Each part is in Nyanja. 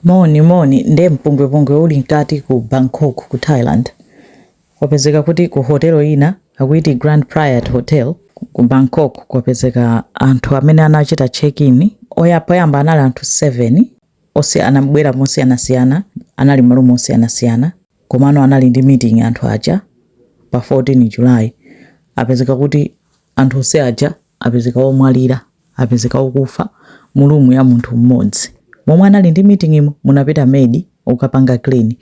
Moni moni nde mpungwepungwe uli nkati ku Bangkok ku Thailand. Kwapezeka kuti ku hotel ina akuiti Grand Prayat Hotel ku Bangkok kwapezeka anthu amene anachita check in oya poyamba anali anthu 7 onse anabwera mosiyanasiyana anali ma room osiyanasiyana komano anali ndi meeting anthu aja pa 14 July apezeka kuti Anthu onse aja apezeka omwalira, apezeka okufa mu room ya munthu mmodzi. Momwe anali ndi meeting yo munapita maid okapanga clean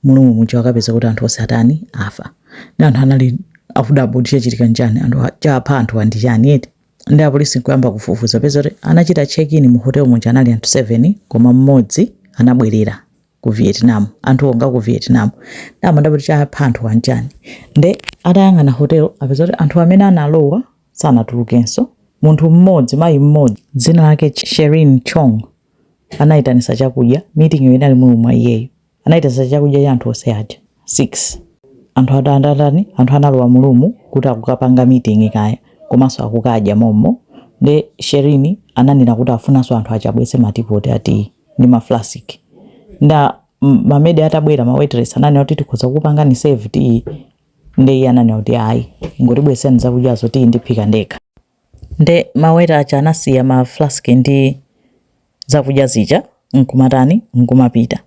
mu room muja akapeza kuti anthu onse atani? Afa. Nde anthu anali akudabwa kuti chachitika nchani? Anthu a, chapha anthu wa ndi chani eti? Nde a police nkuyamba kufufuza kupeza kuti amene anachita check in mu hotel muja anali anthu 7 koma mmodzi anabwelera. ku Vietnam anthuwo nga ku Vietnam nde amadabwa kuti chapha anthuwa nchani nde atayang'ana hotel apeza kuti anthu amene analowa sanatulukenso munthu mmodzi mayi mmodzi dzina lake Sherin Chong anayitanisa chakudya meeting yo inali mu room mwa iyeyo anayitanisa chakudya cha anthu onse aja 6 anthu atadatani anthu analowa mu room kuti akukapanga meeting kaya komanso akukadya mommo nde Sherin ananena kuti afunanso anthu aja abwese ma teapot a tea ndi ma flask nde m- ma maid atabwera ma waitress ananena kuti tikhoza kukupangani serve tiyi nde iye ananena kuti ayi ingotibwesani zakudyazo tiyi ndiphika ndekha nde maweta aja anasiya ma flask ndi zakudya zija nkumatani nkumapita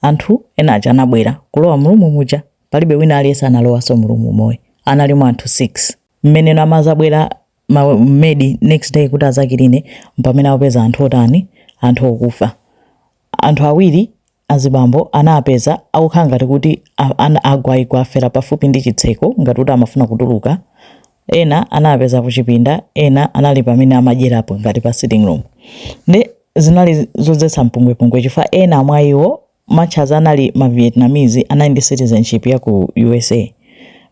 anthu ena aja anabwera kulowa mu room muja palibe wina aliyense analowanso mu room momo analimo anthu 6 mmene amazabwera ma maid next day kuti azakiline mpamene akupeza anthu otani anthu okufa anthu awiri azibambo anapeza akukhala ngati kuti agwaigwa afera pafupi ndi chitseko ngati kuti amafuna kutuluka ena anapeza kuchipinda ena anali pamene amadyerapo ngati pa sitting room nde zinali zodzetsa mpungwepungwe chifukwa ena mwa iwo Much as anali ma Vietnamese anali ndi citizenship ya ku usa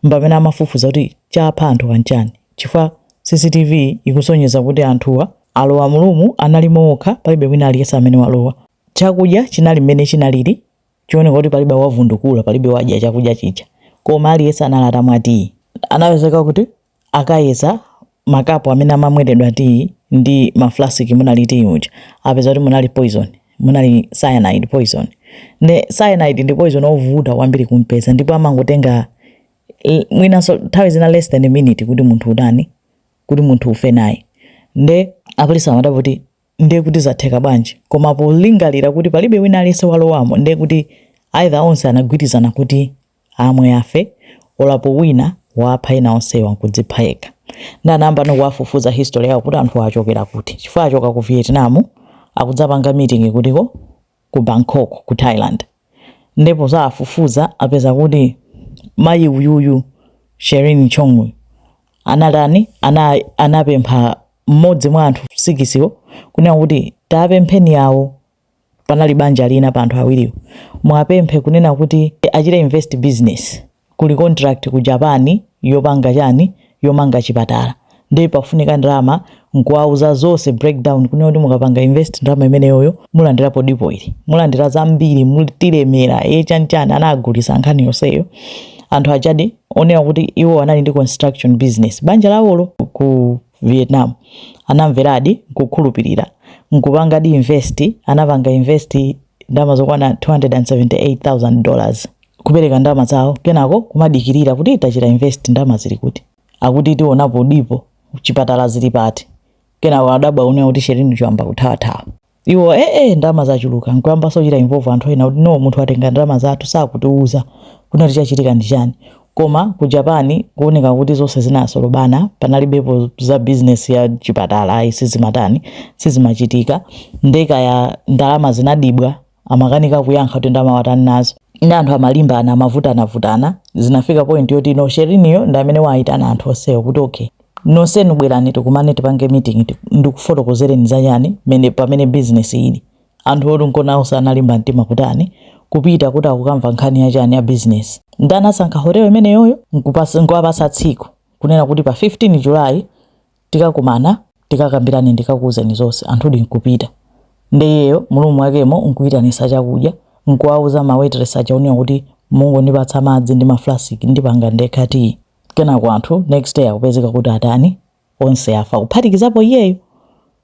mpamene amafufuza kuti chapha anthuwa nchani chifukwa CCTV ikusonyeza kuti anthuwa alowa mu room analimo okha palibe wina aliyense amene walowa. Chakudya chinali mmene chinalili chioneka kuti palibe wavundukula palibe wadya chakudya chija koma aliyense anali atamwa tiyi. Anapezeka kuti akayeza makapu amene amamweredwa tiyi ndi mafulasiki munali tiyi uja apeza kuti munali poison munali cyanide poison ne cyanide ndi poison ovuta kwambiri kumpeza ndipo amangotenga eh, mwinanso nthawi zina less than a minute kuti munthu utani kuti munthu ufe naye nde apolisi amadabwa kuti ndiye kuti zatheka bwanji? Koma polingalira kuti palibe wina aliyense walowamo, ndiye kuti either onse anagwirizana kuti amwe afe, olo pali wina wapha ena onsewa nkudzipha yekha. Nde anayamba ano kuwafufuza history yawo kuti anthuwa achokera kuti, chifukwa achoka ku Vietnam akudzapanga meeting kuti ko ku Bangkok ku Thailand nde pozawafufuza apeza kuti mayi uyuyu Sherine Chong anatani ana, anapempha mmodzi mwa anthu sikisiwo kunena kuti tawapempheni yawo panali banja lina pa anthu awiriwo muwapemphe kunena kuti achite invest business kuli contract ku Japan yopanga chani yomanga chipatala ndiye pafunika ndalama nkuwauza zonse breakdown kunena kuti mukapanga invest ndalama imeneyoyo mulandirapo dipo ili mulandira zambiri mulemera e chani chani anagulisa nkhani yonseyo anthu ajadi onena kuti iwo anali ndi construction business banja lawolo ku vietnam anamveradi nkukhulupirira nkupangadi invest anapanga invest ndalama zokwana 278000 dollars kupereka ndalama zawo kenako kumadikirira kuti tachita invest ndalama zili kuti akuti tionapo dipo chipatala zili pati kenako adabwa kunena kuti Sherine Chong wayamba kuthawathawa iwo ee eh, eh, ndalama zachuluka nkuyambaso kuchita involve anthu ena kuti no munthu atenga ndalama zathu sakutiuza kunena kuti chachitika ndi chani koma ku japani kuoneka kuti zonse zinasolobana panalibepo za business ya chipatala ayi sizimatani sizimachitika nde kaya ndalama zinadibwa amakanika kuyankha kuti ndalama watani nazo nde anthu amalimbana amavutanavutana zinafika point yoti no sheriniyo ndi amene waayitana anthu onsewo kuti okay nonsenu bwerani tikumane tipange meeting ti- ndikufotokozereni za chani mene pamene business ili anthu oti nkona awoso analimba mtima kutani kupita kuti akukamva nkhani yachani ya business nde anasankha hotel imeneyoyo nkupas- nkuwapasa tsiku kunena kuti pa 15 julayi tikakumana tikakambirane ndikakuuzeni zonse anthudi nkupita nde iyeyo mu room mwakemo nkuyitanisa chakudya nkuwauza ma waitress aja kunena kuti mungondipatsa madzi ndi maflasiki ndipanga ndekha tiyi kenako anthu next day akupezeka kuti atani onse afa kuphatikizapo iyeyo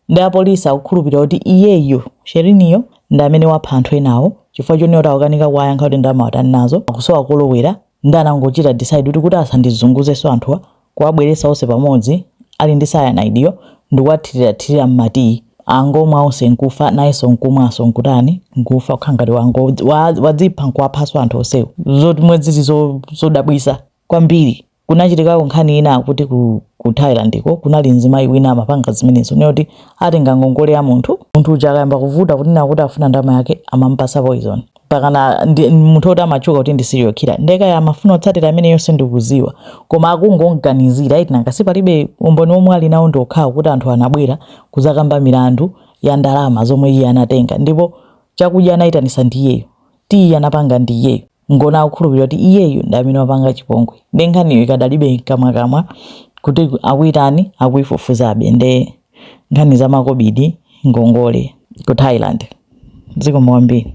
nde apolisi akukhulupirira kuti iyeyo sheriniyo ndi amene wapha anthu enawo chifukwa chonena kuti akukanika kuwayankha kuti ndalama watani nazo akusowa kolowera Nde anangochita decide kuti kuti asandizunguzenso anthuwa kuwabweretsa onse pamodzi ali ndi cyanide yo ndikuwathirirathirira mma tea angomwa onse nkufa nayenso nkumwanso nkutani nkufa kukhala ngati wango wa wadzipha nkuwaphanso anthu onsewo zomwe zili zo zodabwitsa kwambiri kunachitikako nkhani ina akuti ku ku Thailand ko kunali mzimayi wina amapanga zimenezo kunena kuti atenga ngongole ya munthu munthu uja akayamba kuvuta kunena kuti afuna ndalama yake amamupatsa poison mpakana ndi munthu oti amatchuka kuti ndi serial killer nde kaya amafuna kutsatira ameneyo sindikuziwa koma akungomganizira eti nanga si palibe umboni omwe ali nawo ndi okhawo kuti anthu anabwera kuzakamba milandu ya ndalama zomwe iye anatenga ndipo chakudya anayitanisa ndi iyeyo tiyi anapanga ndi iyeyo nkona akukhulupirira kuti iyeyo ndi amene wapanga chipongwe nde nkhaniyo ikadalibe mkamwamkamwa kuti akuyitani akuyifufuzabe nde nkhani za makobidi, ngongole. ku Thailand. Zikomo kwambiri.